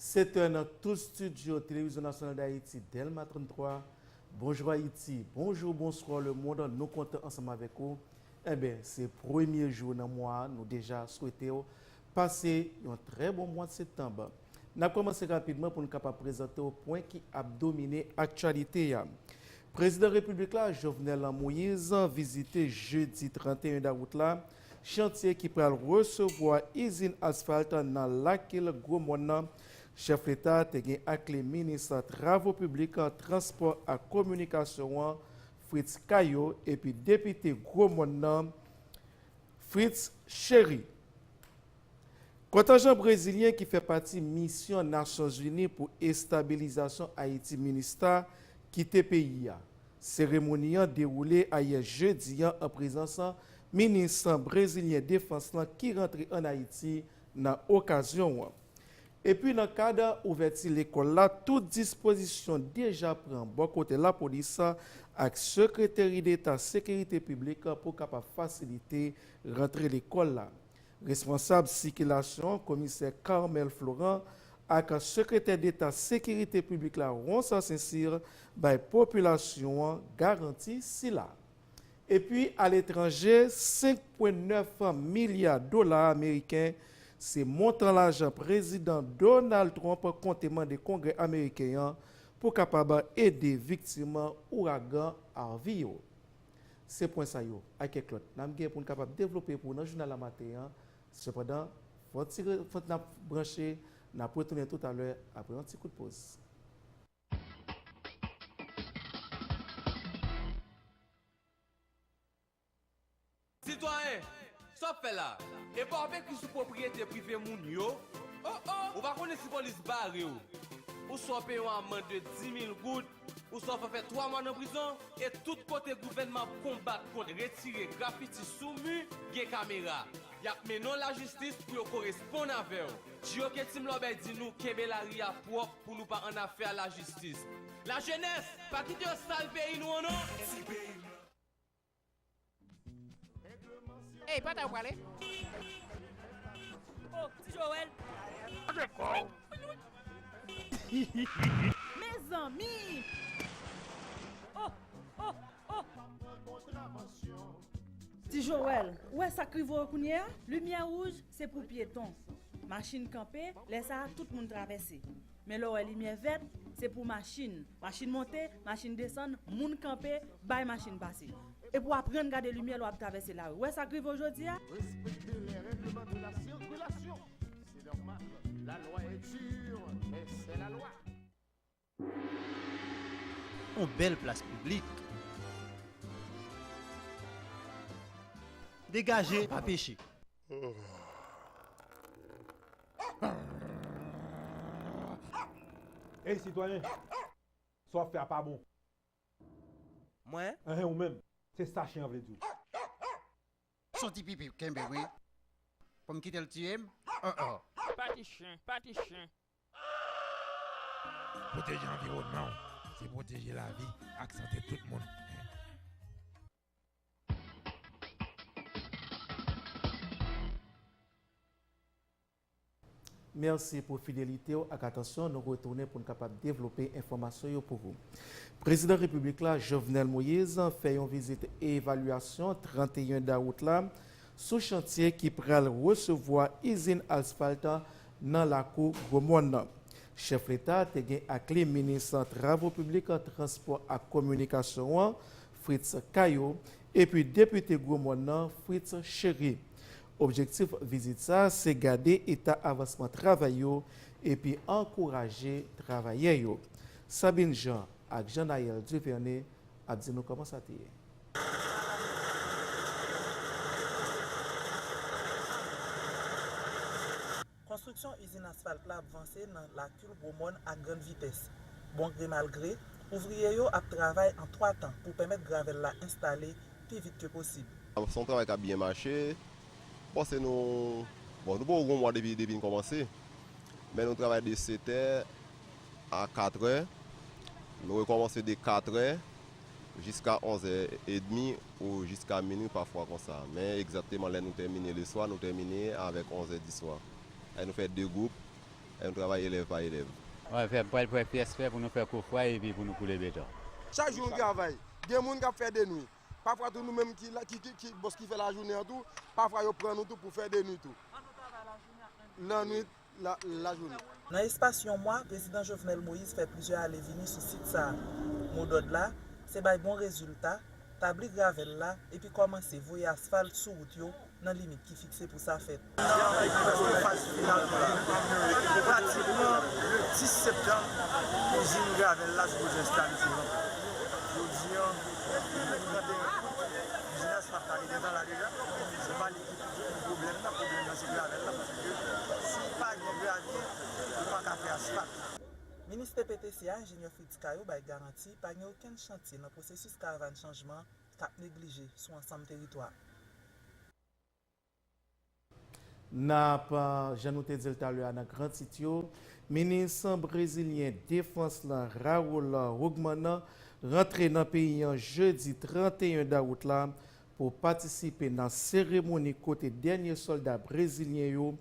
7 è nan tout studio Televizyon Nasyonal Dayiti, Dèlma 33. Bonjou Ayiti, bonjou, bonswa le mond, nou kontan ansanm avèk ou. Enben, se premye jou nan mwa a, nou deja swete w pase yon trè bon mwad septanb. N ap kòmanse rapidman pou n kapab prezante w pwen ki ap domine aktyalite a. Prezidan Repiblik la, Jovenel Moise, vizite jedi 31 dawout la, Chantye ki pral resevwa izin asfalt nan Lakil Gwomòn nan, chèf leta te gen ak li minis travo piblik, transpò ak kominikasyon an, Fritz Caillot epi depite Gwomòn nan, Fritz Chéry. Kontenjan brezilyen ki fè pati misyon Nasyonzini pou estabilizasyon Ayiti, minista, kite peyi a. Seremoni an dewoule ayè jedi an an prezans minis brezilyen defans lan ki rantre an Ayiti nan okazyon an. Epi nan kad ouvèti lekòl la tout dispozisyon deja pran bò kote lapolis ak sekreteri deta sekirite piblik pou kapab fasilite rantre lekòl la. Responsab sikilasyon an komisè Carmel Florent ak sekretè deta sekirite piblik la Ronsard St-Cyr bay popilasyon an garanti sila. Epi aletranje 5 pwen 9 milya dola ameriken se montan lajan prezidan Donald Trump konte mande kongrè ameriken an pou kapab ede viktim ouragan Harvey yo. Se pwen sa yo, ak kèk lòt, n ap gen pou n kapab devlope pou ou nan jounal la maten an. Sepandan, fò ti fò n ap branche, n ap retounen toutalè apre yon ti kout poz. Sitwayen! Sa wap fè la? Epa wap ekri sou pwopriyete prive moun yo? Oh oh! Ou pa konnen si polis bare w, ou swa w peye yon amand de 10.000 goud, ou swa w fè 3 mwa nan prizon, e tout kote gouvènman ap konbat kont retire grafiti sou mi, gen kamera. Yap mennen w lajistis pou yo koresponn avè w. Di yo ke Team Lòbèy di nou kenbe lari a pwòp pou nou pa annafè a lajistis. Lajenès, pa kite yo sal peyi nou an non! Ti peyi m lan! Hey pata yo prale. Oh ti Joel. Gade kow. Mezanmi. Oh oh oh. Ti Joel ou wè sak rive w kounyea. Limyè wouj se pou pyeton. Machin kanpe lè sa tout moun travèse. Men lè w wè limyè vèt, se pou machin. Machin monte, machin desann, moun kanpe, bay machin pase. Epi w aprann gade limyè lè w ap travèse lari. Ou wè sa k rive w jodi a? Respekte lè règleman de la sirkilasyon. Se nòmal. La lwa è dir, mè sè la lwa. On bèl plas piblik. Degaje, pa peche. Ey sitwayen! Sa w ap fè a pa bon. Mwen? Enhen ou menm! Se sa chen an vle di w. S on ti pipi kenbe wi. Pou m kite l tiye m? Oh oh! Pati chen! Pati chen! Pwoteje anviwònman w se pwoteje lavi ak sante tout moun. Mèsi pou fidelite w ak atansyon, nou retounen pou n kapab devlope enfòmasyon yo pou ou. Prezidan Repiblik la, Jovenel Moise, fè yon vizit evalyasyon 31 dawout la sou chantye ki pral resevwa izin asfalt nan lakou Gwomòn nan. Chèf Leta te gen ak li Minis Travo Piblik, Transpò ak Kominikasyon an, Fritz Caillot, epi depite Gwo Mòn nan, Fritz Chéry. Objektif vizit sa se gade eta avansman travay yo epi ankouraje travayè yo. Sabine Jean ak Jean Naël Duverne ap di nou kòman sa te ye. Konstriksyon izin asfalt la ap vanse nan Lakil, Gwo Mòn ak grann vitès. Bon gre mal gre, ouvriye yo ap travay an 3 tan pou pèmèt gravèl la enstale pi vit ke posib. Se yon travay k ap byen mache. M panse nou bon nou poko gen yon mwa depi depi n kòmanse. Men nou travay de setè a katrè. Nou rekòmanse de katrè. jiska 11 zè edmi ou jiska minwi pafwa konsa men egzakteman lè nou tèmine leswa nou tèmine avèk 11 zè diswa e nou fè 2 gwoup e nou travay elèv pa elèv. Mwen fè pral fè pyès fè pou nou fè kou fwa epi pou nou koule beton. Chak jou nou travay, gen moun k ap fè denwi. Pafwa tou nou menm ki bòs ki fè lajounen an tou, pafwa yo pran nou tou pou fè denwi tou. Lannwit lajounen. Nan espas yon mwa, Prezidan Jovenel Moïse fè plizyè ale vini sou sit sa a. Modòd la, se bay bon rezilta, tabli gravèl la epi kòmanse voye asfalt sou wout yo nan limit ki fikse pou sa fèt. Travay ki poko pati final yo la, pratikman le 10 septanm izin gravèl la sipoze enstale sou lanmp la. Jodi an, nou 31 out, izin asfalt la li gentan la deja. Pwoblèm nan, pwoblèm nan se gravèl la paske si ou pa gen gravye, ou pa ka fè asfalt. Minis PPTC a, Enjenyè Fritz Cayot bay garanti pa gen okenn chantye nan pwosesis Karavàn Chanjman k ap neglije sou ansanm teritwa a. N ap, jan nou te di l talè a nan gran tit yo, Minis brezilyen defans la, Raul Hugman, rantre nan peyi an jedi 31 dawout la pou patisipe nan seremoni kote dènye sòlda brezilyen yo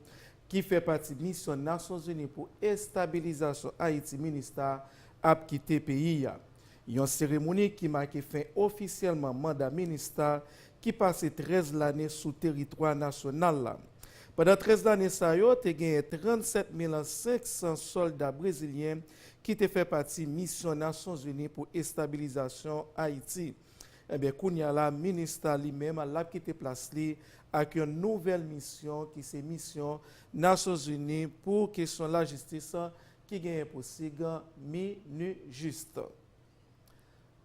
ki fè pati misyon Nasyonzini pou estabilizasyon Ayiti, Minustah, ap kite peyi a. Yon seremoni ki make fen ofisyèlman manda Minustah ki pase 13 lane sou teritwa nasyonal la. Pandan 13 lane sa yo, te genyen 37 mil 500 sòlda brezilyen ki te fè pati misyon Nasyonzini pou estabilizasyon Ayiti. Ebyen kounya la minustah li menm lap kite plas li ak yon nouvèl misyon ki se misyon nasyonzini pou kesyon lajistis ki genyen pou sig minujust.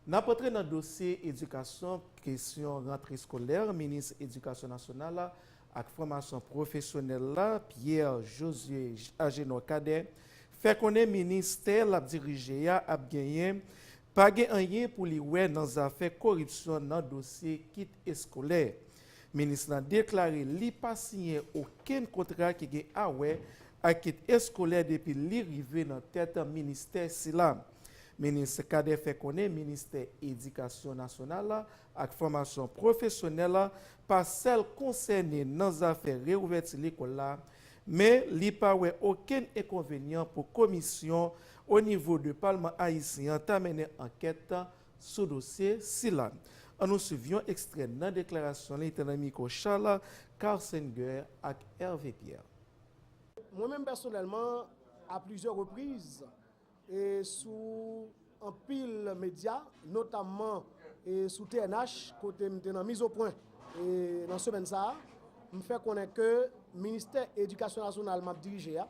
Nap antre nan dosye edikasyon kesyon rantre skolè minis edikasyon nasyonal ak fòmasyon pwofesyonèl la, Pierre Josué Agénor Cadet, fè konnen ministè l ap dirije a ap genyen pa gen anyen pou li wè nan zafè koripsyon nan dosye kit eskolè. Minis lan deklare li pa siyen okenn kontra ki gen awè ak kit eskolè depi li rive nan tèt ministè sila. Minis Cadet fè konnen ministè edikasyon nasyonal ak fòmasyon pwofesyonèl pa sèl konsène nan zafè reouvèti lekòl la, men li pa wè okenn enkonvenyan pou komisyon o nivo de palman ayisyen an ta mennen ankèt sou dosye sila. An nou swiv yon ekstrè nan deklarasyon li te nan mikwo Charles Karsenguer ak Hervé Pierre. Mwen menm pèsonèlman, a plizyè repriz, e sou anpil medya notamman e sou TNH kote m te nan mizopwen e nan semèn sa a m fè konnen ke ministè edikasyon nasyonal m ap dirije a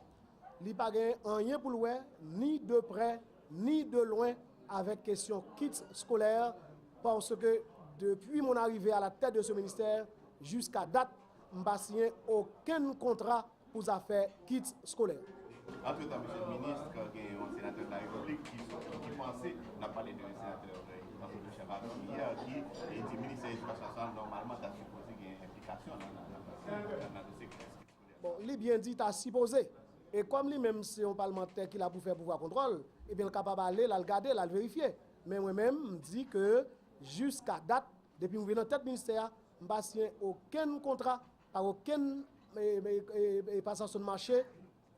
li pa gen anyen pou l wè ni de prè ni de lwen avèk kesyon kits skolè paske depi mon arive a la tèt de se ministè jiska dat m pa siyen okenn kontra pou zafè kits skolè. Antretan, Msye Minis, gen yon Senatè de la Repiblik ki soti ki panse, n ap pale de Senatè Antony Chavannes yè ki di Ministè Edikasyon Nasyonal nòmalman ta sipoze gen enplikasyon nan dosye kits skolè. Bon, li byen di ta sipoze. E kòm li menm se yon palmantè ki la pou fè pouvwa kontwòl, ebyen l kapab ale l al gade, l al verifye. Men mwen menm, m di ke jiska dat, depi m rive nan tèt Ministè a, m pa siyen okenn kontra Pa okenn pasasyon mache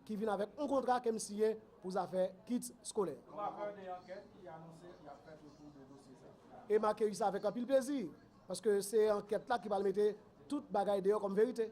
ki vin avèk yon kontra ke m siyen pou zafè kits skolè. Yon rapò de ankèt ki anonse y ap fèt otou de dosye sa a. E m akeyi sa avèk anpil plezi, paske se ankèt la ki pral mete tout bagay deyò kòm verite.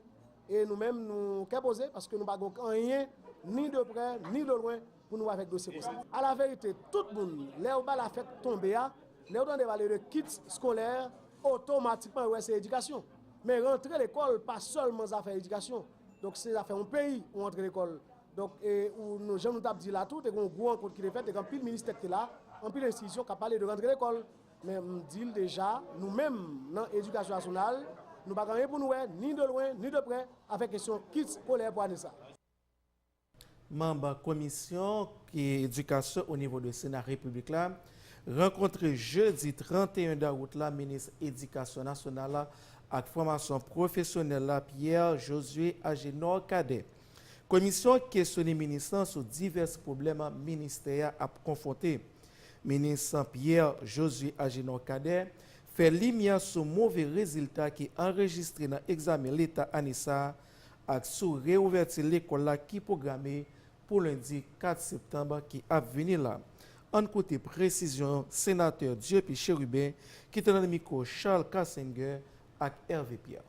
E nou menm nou kè poze, paske nou pa gen anyen ni de prè ni de lwen Pou nou avèk dosye konsa. A la verite, tout moun, lè yo ba la fèt tonbe a, lè yo tande pale de kits skolèr, otomatikman yo wè se edikasyon. Men rantre lekòl pa sèlman zafè edikasyon. Donk se zafè yon peyi ou antre lekòl. Donk e ou nou jan nou t ap di la tou, te gen yon gwo rankont ki te fèt, te gen anpil ministè ki te la, anpil enstitisyon k ap pale de rantre lekòl. Men m di l deja, nou menm nan edikasyon nasyonal, nou pa gen anyen pou nou wè, ni de lwen, ni de prè, avèk kesyon kits skolèr pou ane sa. Manb komisyon edikasyon o nivo de sena repiblik la rankontre jedi 31 dawout la minis edikasyon nasyonal ak fòmasyon pwofesyonèl la Pierre Josué Agénor Cadet. Komisyon kesyone minis lan sou divès pwoblèm ministè a ap konfwonte. Minis Pierre Josué Agénor Cadet fè limyè sou move rezilta ki anrejistre nan egzamen leta ane sa ak sou reouvèti lekòl la ki pwograme pou lendi 4 septanb ki ap vini la. Ann koute presizyon Senatè Dieupy Chérubin ki te nan mikwo Charles Cassenger ak Hervé Pierre.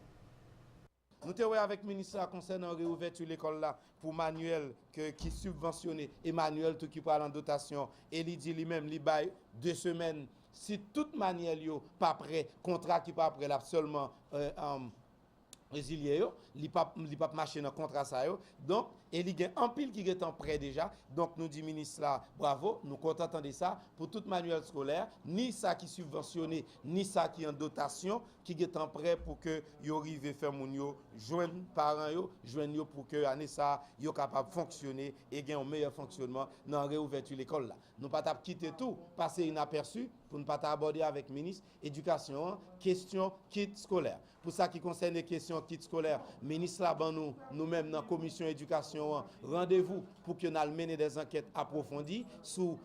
Nou te wè avèk minis la konsènan reouvèti lekòl la pou manyèl ke ki sibvansyone e manyèl tou ki pral an dotasyon e li di li menm li bay 2 semèn si tout manyèl yo pa prè kontra ki pa prè l ap sèlman rezilye yo, li pa li pa p mache nan kontra sa yo, donk, e li gen anpil ki gen tan prè deja, donk nou di minis la bravo, nou kontan tande sa, pou tout manyèl skolè, ni sa ki sibvansyone, ni sa ki an dotasyon, ki gen tan prè pou ke yo rive fè moun yo jwenn paran yo, jwenn yo pou ke ane sa a yo kapab fonksyone e gen yon meyè fonksyonman nan reouvèti lekòl la. Nou pa t ap kite tou pase inapèsi pou n pa ta abòde avèk minis edikasyon an kesyon kit skolè a. Pou sa ki konsène kesyon kit skolè, minis la ban nou, nou menm nan komisyon edikasyon an, randevou pou ke n al mennen dè zankèt apwofondi sou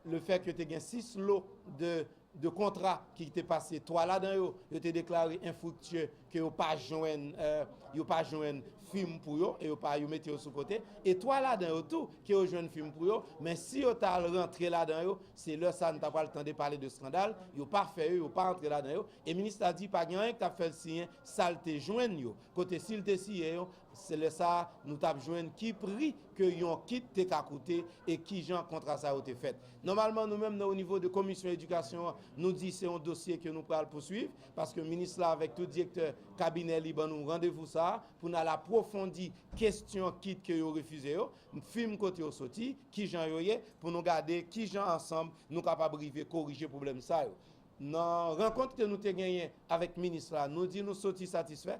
le fè ke te gen 6 lo de kontra ki te pase, 3 ladan yo, yo te deklare enfriktye, ke yo pa jwenn, yo pa jwenn fim pou yo, e yo pa, yo mete yo sou kote, e 3 ladan yo tou, ke yo jwenn fim pou yo, men si yo ta al rantre ladan yo, se lè sa a nou ta pral tande pale de skandal, yo pa fè yo, yo pa antre ladan yo, E minista di pa gen anyen ki t ap fè l siyen sa l te jwenn yo, kote si l te siyen yo, se lè sa a nou t ap jwenn ki pri ke yon kit te ka koute e kijan kontra sa yo te fèt. Nòmalman nou menm nan onivo de komisyon edikasyon an, nou di se yon dosye ke nou pral pouswiv, paske minis la avèk tout direktè kabinè li ban nou randevou sa a pou n al apwofondi kesyon kit ke yo refize yo, fim kote yo soti, kijan yo ye, pou nou gade kijan ansanm nou kapab rive korije pwoblèm sa yo. Nan rankont ke nou te genyen avèk minis la, nou di nou soti satisfè.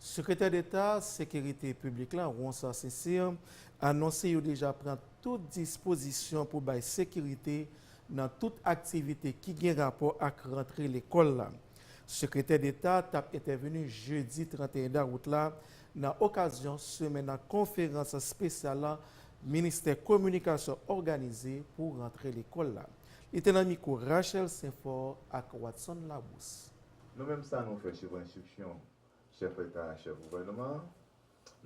Sekretè Deta Sekirite Piblik la, Ronsard St-Cyr, anonse yo deja pran tout dispozisyon pou bay sekirite nan tout aktivite ki gen rapò ak rantre lekòl la. Sekretè Deta tap entèveni jedi 31 dawout la Nan okazyon semen nan konferans spesyal lan ministè kominikasyon òganize pou rantre lekòl la. Li te nan mikwo Rachel Senfort ak Watson Labrousse. Nou menm sa nou fè suivan enstriksyon chèf leta a chèf gouvènman an.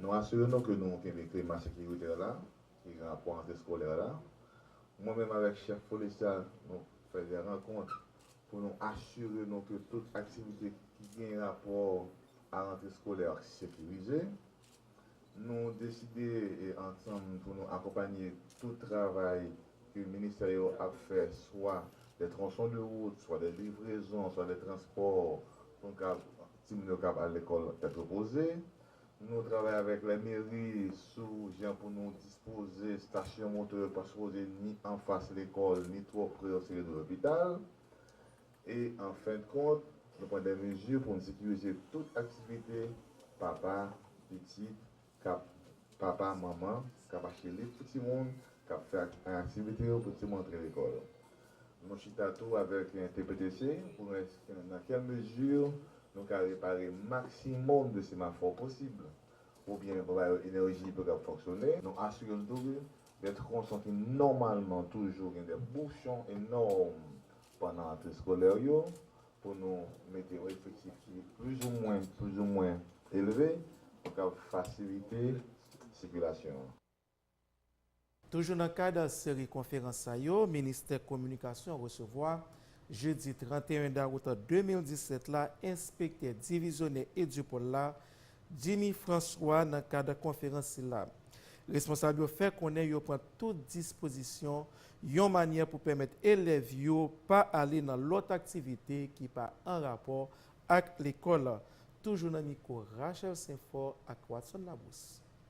Nou asire nou ke nou kenbe klima sekiritè la ki gen rapò antre skolè la. Mwen menm avèk chèf polis la nou fè de rankont. pou nou asire nou ke tout aktivite ki gen rapò a rantre skolè a sekirize. Nou deside ansanm pou nou akonpanye tout travay ke ministè yo ap fè swa dè tronson de wout, swa dè livrezon, swa dè transpò pou nou ka timoun yo kab al lekòl tèt repoze. Nou travay avèk lè meri sou jan pou nou dispoze stasyon moto yo pa sipoze ni anfas lekòl ni twò pre yon seri de lopital. E an fend kont, nou pran dè mezi pou n sekirize tout aktivite papa, pitit, kap papa, manman kap achte liv pou timoun, kap fè aktivite yo pou timoun antre lekòl. Mwen chita tou avèk TPTC pou wè nan kèl mezi nou ka repare maksimòm de semafò posib oubyen pou ba yo enèji pou yo kab fonksyone. Nou asire n tou ke dè tronson ki nòmalman toujou gen dè bouchon enòm pandan rantre skolè yo, pou nou mete yon efektif ki plizoumwen plizoumwen elve pou kab fasilite sikilasyon an. Toujou nan kad seri konferans sa yo Ministè Kominikasyon resevwa, jedi 31 dawout 2017 la, enspektè divizyonè Edupol la, Jimmy François nan kad konferans sila. Responsab yo fè konnen yo pran tout dispozisyon yon manyè pou pèmèt elèv yo pa ale nan lòt aktivite ki pa an rapò ak lekòl. Toujou nan mikwo Rachel St-Fort ak Watson Labrousse.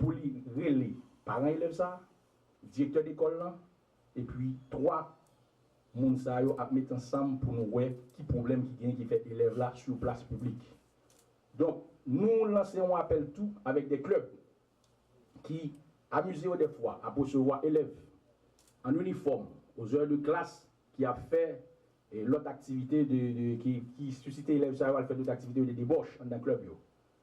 pou li rele paran elèv sa a, direktè lekòl lan, epi 3 moun sa yo ap met ansanm pou nou wè ki pwoblèm ki genyen ki fè elèv la sou yon plas piblik. Donk, nou lanse yon apèl tou avèk de klèb ki amize yo dèfwa ap resevwa elèv an inifòm ozè de klas ki ap fè lòt aktivite de, ki susite elèv sa yo al fè dòt aktivite yo de debòch anndan klèb yo.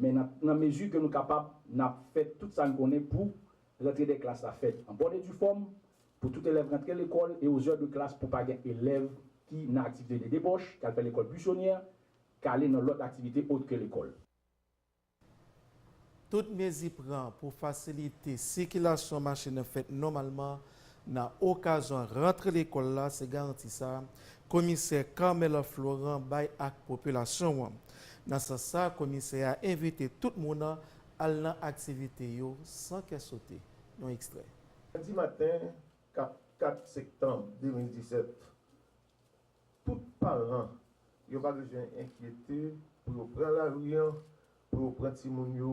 Men nan nan mezi ke nou kapab, n ap fè tout sa n konnen pou rantre dè klas la fèt an bòn e di fòm, pou tout elèv rantre lekòl e ozè de klas pou pa gen elèv ki nan aktivite de debòch, k al fè lekòl buisonyè, k ale nan lòt aktivite ot ke lekòl. Tout mezi pran pou fasilite sikilasyon machin nan fèt nòmalman Nan okazyon rantre lekòl la se garanti sa komisè Carmel Florent bay ak popilasyon an. Nan sans sa komisè a envite tout moun al nan aktivite yo san kè sote. Yon ekstrè. Lendi maten 4 4 sektanm 2017, tout paran yo pa bezwen enkyete pou yo pran lari an pou yo pran timoun yo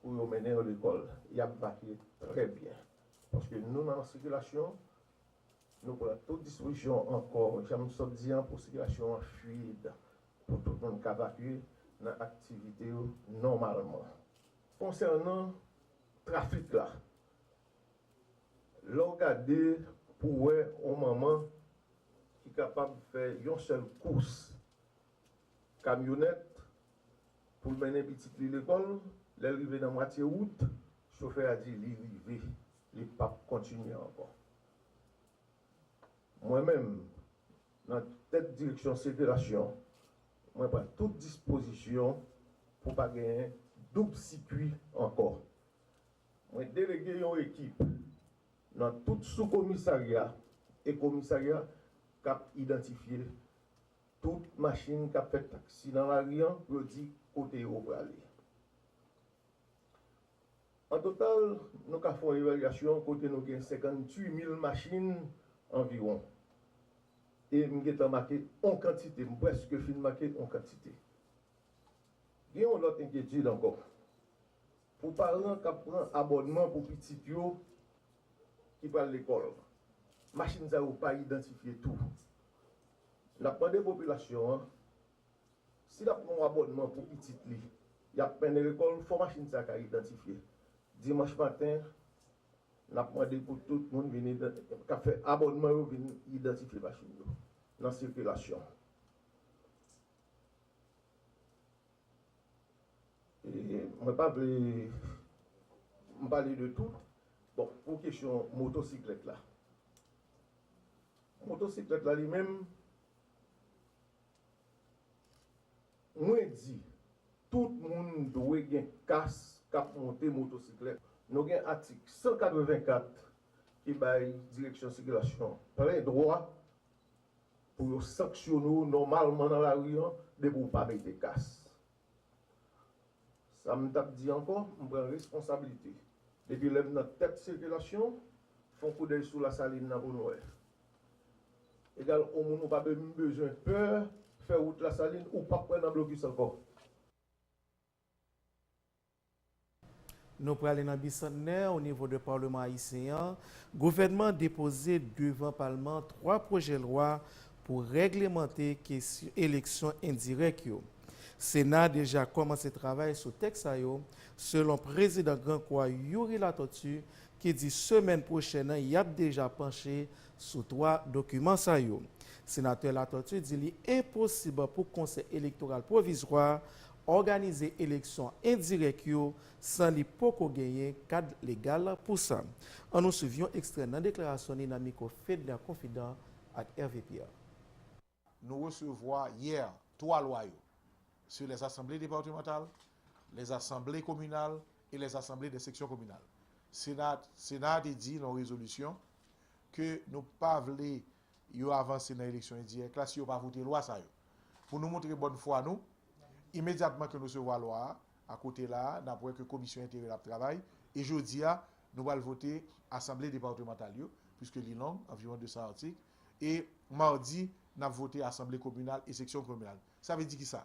pou yo mennen yo lekòl y ap vakye trè byen paske nou nan sikilasyon nou pran tout dispozisyon ankò jan m sot di an pou sikilasyon an fluid pou tout moun ka vakye nan aktivite yo nòmalman konsènan trafik la lè w gade pou w wè yon manman ki kapab fè yon sèl kous kamyonèt pou l mennen pitit li lekòl. Lè l rive nan mwatye wout, chofè a di li rive, li p ap kontinye ankò. Mwen menm, nan tèt direksyon sekirasyon, mwen pran tout dispozisyon pou pa genyen doub sikui ankò. Mwen delege yon ekip nan tout soukomisarya e komisarya k ap idantifye. Tout machin kap fè taksi nan lari an pou yo di kote yo prale. An total, nou ka fè yon evalyasyon kote nou gen 58 mil machin anviwon. E m gentan make yon kantite, m prèske fin make yon kantite. Gen yon lòt enkyetid ankò. Pou paran kap pran abònman pou pitit yo ki pral lekòl, machin sa yo pa idantifye tou. N ap mande popilasyon an, si l ap pran yon abònman pou pitit li, y ap mennen lekòl, fò machin sa ka idantifye. Dimanch maten, n ap mande pou tout moun vin k ap fè abònman yo vin idantifye machin yo nan sikilasyon. Mwen pa vle m pale de tout, bon pou kesyon motosiklèt la. Motosiklèt la li menm, mwen di tout moun dwe gen kas k ap monte motosiklèt. Nou gen atik 184 ki bay direksyon sikilasyon plen dwa pou yo sanksyone w nòmalman nan lari an depi w pa mete kas. Sa m tap di ankò, m pran responsablite. Depi lè m nan tèt sikilasyon, fon koudèy sou Lasalin nan pou nou wè. Egal on moun ou pa menm bezwen pè fè wout Lasalin, ou pap pran nan blokis ankò. Nou prale nan bisantnè o nivo de Paleman Ayisyen an, gouvènman depoze devan Palman 3 pwojè lwa pou règlemante kesyon eleksyon endirèk yo. Sena deja kòmanse travay sou tèks sa yo, selon prezidan Gran Kwa Youri Latortue ki di semèn pwochèn an yap deja panche sou 3 dokiman sa yo. Senatè Latortue di li enposib pou Konsèy Elektoral Pwovizwa òganize eleksyon endirèk yo san li poko genyen kad legal pou sa. An nou swiv yon ekstrè nan deklarasyon li nan mikwo Fedna Confidan ak Hervé Pierre. Nou resevwa yè twa lwa yo sou lè asanble departemantal, lè asanble kominal e lè asanble dè seksyon kominal. Sena a te di nan yon rezolisyon ke nou pa vle yo avanse nan eleksyon endirèk la si yo pa vote lwa sa yo. Pou nou montre bòn fwa nou, imedyatman ke nou resevwa lwa a, a kote la a, n ap wè ke Komisyon Enteryèl ap travay, e jodi a, nou pral vote Asanble Departemantal yo, piske li long, anviwon 200 atik, e madi, n ap vote Asanble Kominal e Seksyon Kominal. Sa vle di kisa?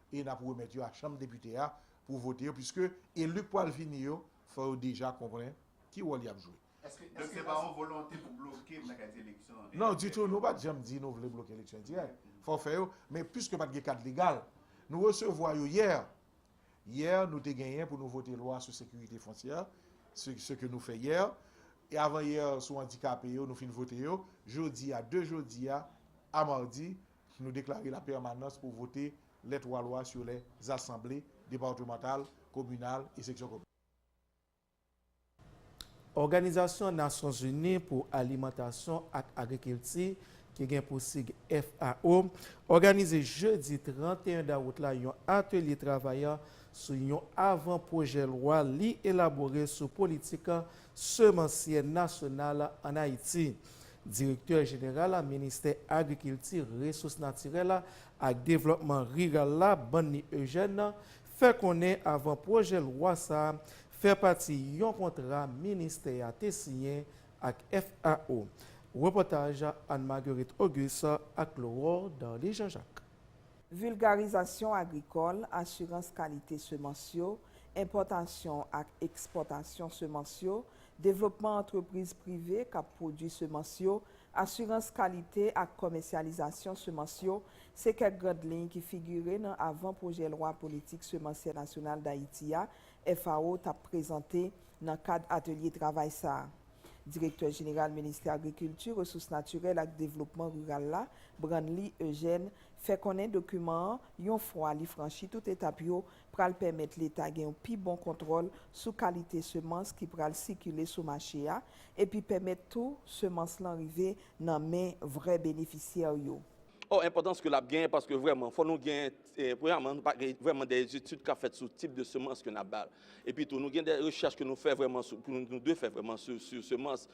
e n ap remèt yo a Chanm Depite a pou vote yo piske eli k pral vini yo fò yo deja konprann ki wòl y ap jwe. Donk se pa yon volonte pou bloke bagay ti eleksyon endirèk yo. Non, ditou, nou pa t janm di nou vle bloke eleksyon endirèk. Fò w fè yo, men piske pa t gen kad legal, nou resevwa yo yè. Yè nou te genyen pou nou vote lwa sou sekirite fontyè, se ke nou fè yè, e avan yè sou andikape yo nou fin vote yo, jodi a, de jodi a a madi, Nou deklare la pèmanans pou vote lè twa lwa sou lè zasanble departemantal, kominal e seksyon kominal. Òganizasyon Nasyon Zini pou Alimantasyon ak Agrikilti, ki gen pou sig FAO, òganize jedi 31 dawout la yon atelye travay sou yon avan pwojè lwa li elabore sou politik semansyè nasyonal an Ayiti. Direktè jeneral a ministè agrikilti, resous natirèl a ak devlòpman riral la, Banny Eugène, fè konnen avan pwojè lwa sa a fè pati yon kontra ministè a te siyen ak FAO. Repòtaj Anne Marguerite Auguste ak Laurore Darly Jean Jacques. Vilgarizasyon agrikòl, asirans kalite semans yo, enpòtasyon ak ekspòtasyon semans yo, devlopman antrepriz prive k ap pwodui semans yo, asirans kalite ak kòmèsyalizasyon semans yo, se kèk grand liy ki figire nan avan pwojè lwa politik semansyè nasyonal Dayiti a FAO t ap prezante nan kad atelye travay sa a. Direktè jeneral Ministè Agrikilti, Resous Natirèl ak Devlopman Riral la, Branly Eugène, fè konnen dokiman an, yon fwa li franchi tout etap yo, pral pèmèt Leta gen yon pi bon kontwòl sou kalite semans ki pral sikile sou mache a, epi pèmèt tou semans lan rive nan men vrè benefisyè yo. O Enpòtans ke l ap genyen paske vrèman fò nou gen, premyaman, nou pa gen vrèman de etid k ap fèt sou tip de semans ke n ap bay. Epi tou, nou gen de rechèch ke nou fè vrèman sou, ke nou dwe fè vrèman sou semans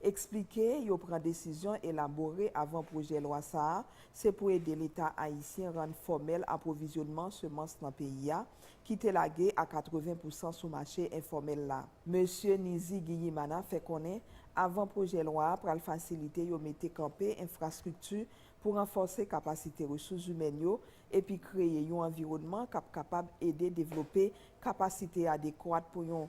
Eksplike yo pran desizyon elabore avan pwojè lwa sa a se pou ede Leta ayisyen rann fòmèl apwovizyonman semans nan peyi a, ki te lage a 80 pousan sou mache enfòmèl la. Mesye Nizigiyimana fè konnen avan pwojè lwa a pral fasilite yo mete kanpe enfrastrikti pou ranfòse kapasite resous zimèn yo epi kreye yon anviwònman k ap kapab ede devlope kapasite adekwat pou yon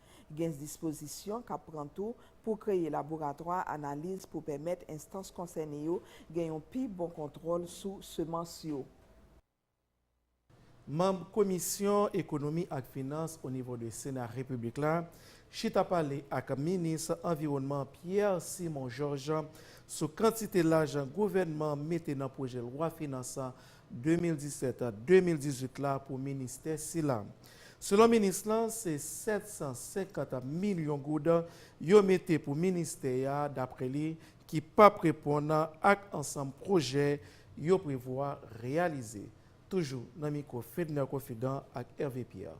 Gen dispozisyon k ap pran tou pou kreye laboratwa analiz pou pèmèt enstans konsène yo gen yon pi bon kontwòl sou semans yo. Manb komisyon ekonomi ak finans onivo de sena repiblik la chita pale ak minis anviwònman Pierre Simon Georges sou kantite lajan gouvènman mete nan pwojè lwa finans 2017 a 2018 la pou ministè sila. Selon minis lan, se 750 milyon goud yo mete pou ministè a, daprè li, ki p ap reponn ak ansanm pwojè yo prevwa reyalize. Toujou nan mikwo Fedner Kofidan ak Hervé Pierre.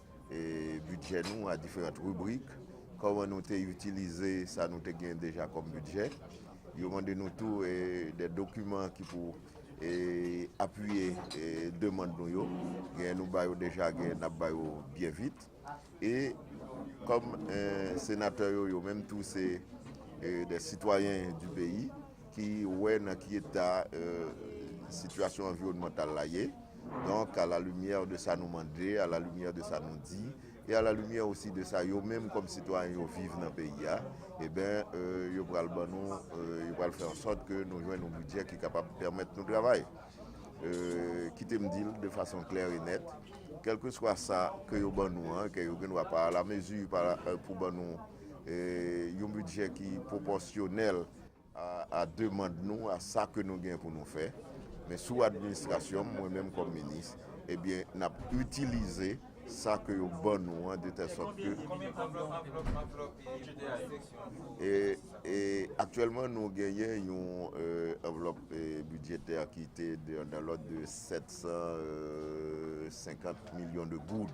bidjè nou a diferant ribrik, kòman nou te itilize sa nou te gen deja kòm bidjè. Yo mande nou tou de dokiman ki pou apiye demand nou yo. Genyen nou ba yo deja, genyen n ap ba yo byen vit. E kòm senatè yo, yo menm tou se de sitwayen di peyi, ki wè nan ki eta sitiyasyon anviwònmantal la ye, donk a la limyè de sa nou mande, a la limyè de sa nou di, e a la limyè osi de sa yo menm kòm sitwayen yo viv nan peyi a, eben yo pral ban nou, yo pral fè an sòt ke nou jwenn yon bidjè ki kapab pèmèt nou travay. Kite m di l de fason klè e nèt, kèlkeswa sa ke yo ban nou an, ke yo gen dwa pa a la mezi pou ban nou yon bidjè ki pwopòsyonèl, a demand nou, a sa ke nou gen pou nou fè, men sou administrasyon m, mwen menm kòm minis, ebyen n ap itilize sa ke yo ban nou an de tèl sòt ke, e aktyèlman nou genyen yon anvlòp bidjetè ki te nan lòd de 750 milyon de goud.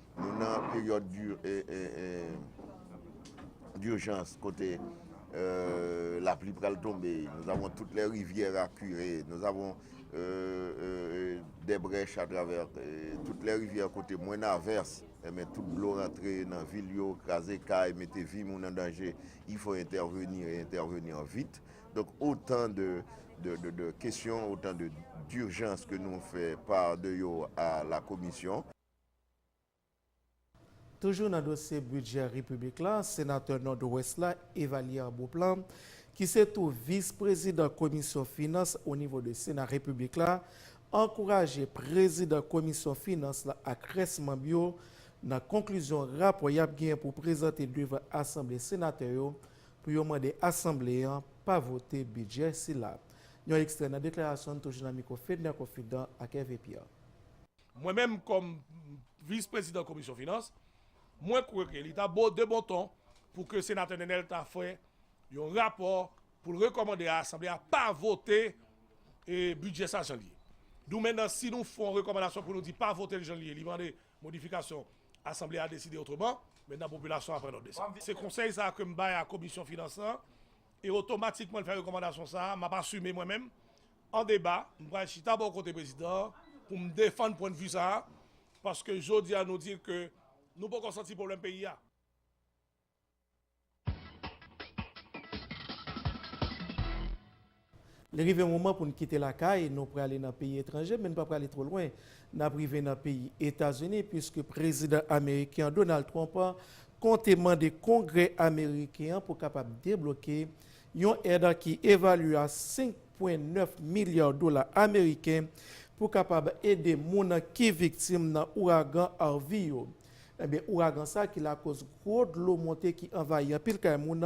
Nou nan peryòd d'urgence kote la pli pral tonbe, nous avons toutes les rivières à curer, nous avons des brèches à travers toutes les rivières kote mwen averse, enben tout dlo rantre nan vil yo, kraze kay, mete vi moun an danje, il faut intervenir et intervenir vite. Donc autant de questions, autant d'urgences que nous fait part de yo à la Commission. Toujou nan dosye bidjè repiblik la, senatè Nòdwès la Evalière Beauplan, ki se tou vis prezidan komisyon finans o nivo de sena repiblik la, ankouraje prezidan komisyon finans la ak rès manb yo nan konklizyon rapò yap genyen pou prezante devan asanble senatè yo pou yo mande asanble an pa vote bidjè sila. Yon ekstrè nan deklarasyon n toujou nan mikwo Fedner Confidan ak Hervé Pierre. Mwen menm kòm Vis Prezidan Komisyon Finans, mwen kwè ke li ta bo, de bon ton, pou ke Senatè Nenel ta fè yon rapò pou l rekòmande a Asanble a pa vote bidjè sa jan li ye. Dou mennan si nou fon rekòmandasyon pou nou di pa vote l jan li ye, li mande modifikasyon, Asanble a deside otreman, mennan popilasyon a pran nòt de sa. Se konsèy sa a ke m bay a Komisyon Finans lan E otomatikman l fè rekòmandasyon sa a, m ap asime mwen menm, an deba, m pral chita bò kote prezidan an pou m defann pwennvi sa a, paske jodi a nou di ke nou poko santi pwoblèm peyi a. Li rive yon moman pou n kite lakay nou prale nan peyi etranje men n pa prale two lwen. N ap rive nan peyi Etazini puiske prezidan ameriken an Donald Trump konte mande kongrè ameriken an pou kapab debloke yon èd ki evalye a 5 pwen 9 milya dola ameriken pou kapab ede moun ki viktim nan ouragan Harvey yo. Enben ouragan sa ki lakoz gwo dlo monte ki anvayi anpil kay moun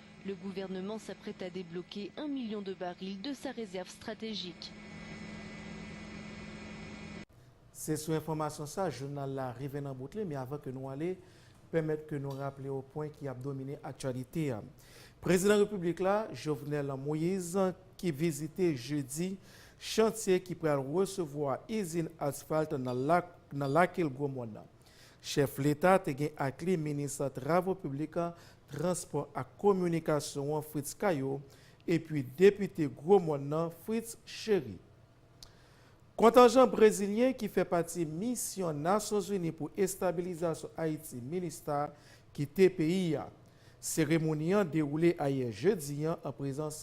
Le gouvernement s'apprête à débloquer un million de barils de sa réserve stratégique. Se sou enfòmasyon sa jounal la rive nan bout li, men avan ke nou ale, pèmèt ke nou raple w pwen ki ap domine aktyalite a. Prezidan Repiblik la, Jovenel Moise, ki vizite jedi chantye ki pral resevwa izin asfalt nan Lake Gromòn nan. Chèf leta te gen ak li minis travo piblik, transpò ak kominikasyon an Fritz Caillaux epi depite Gwo Mòn nan Fritz Chéry. Kontanjan brezilyen ki fè pati misyon Nasyonzini pou estabilizasyon Ayiti, Minustah, kite peyi a. Seremoni an dewoule ayè jedi an prezans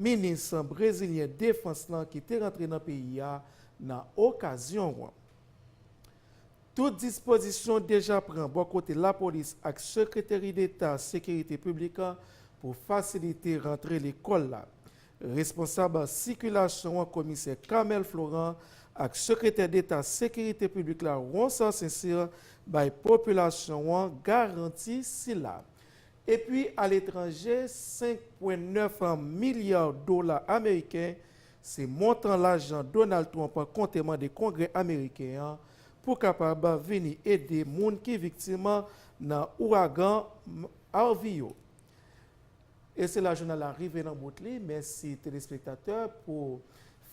minis brezilyen defans lan ki te rantre nan peyi a nan okazyon an. Tout dispozisyon deja pran bò kote lapolis ak Sekreteri Deta Sekirite Piblik la pou fasilite rantre lekòl la. Responsab sikilasyon an Komisè Carmel Florent ak Sekretè Deta Sekirite Piblik la Ronsard Sincere bay popilasyon an garanti sila. Epi aletranje 5 pwen 9 milya dola ameriken Se montan lajan Donald Trump konte mande Kongrè ameriken an pou kapab vini ede moun ki viktim nan ouragan Harvey yo. E se la jounal la rive nan bout li. Mèsi telespektatè pou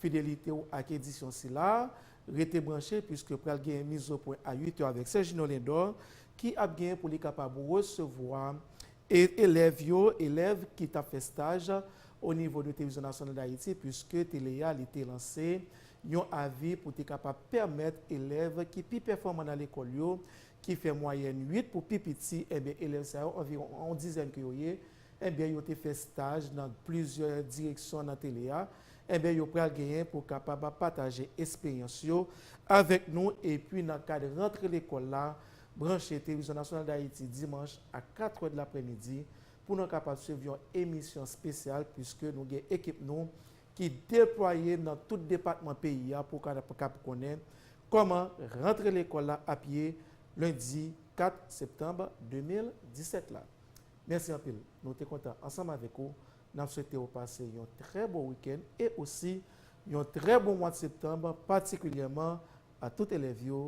fidelite w ak edisyon sila. Rete branche puiske pral gen Mizopwen a 8 è avèk Sergino Lindor ki ap gen pou li kapab resevwa E elèv yo, elèv ki t ap fè staj o nivo de Televizyon Nasyonal Dayiti, puiske tele a li te lanse yon avi pou te kapab pèmèt elèv ki pi pèfòman nan lekòl yo, ki fè mwayèn 8 pou pi piti, enben elèv sa yo anviwon yon dizèn ke yo ye, enben yo te fè staj nan plizyè direksyon nan tele a, enben yo pral genyen pou kapab pataje esperyans yo avèk nou epi nan kad rantre lekòl la Branche Televizyon Nasyonal Dayiti dimanch a katrè de lapremidi pou nan kapab swiv yon emisyon spesyal puiske nou gen ekip nou ki deplwaye nan tout depatman peyi a pou kapab konnen kòman rantre lekòl la ap ye lendi 4 septanb 2017 la. Mèsi anpil nou te kontan ansanm avèk ou nap swete ou pase yon trè bon wikenn e osi yon trè bon mwad septanb patikilyèman a tout elèv yo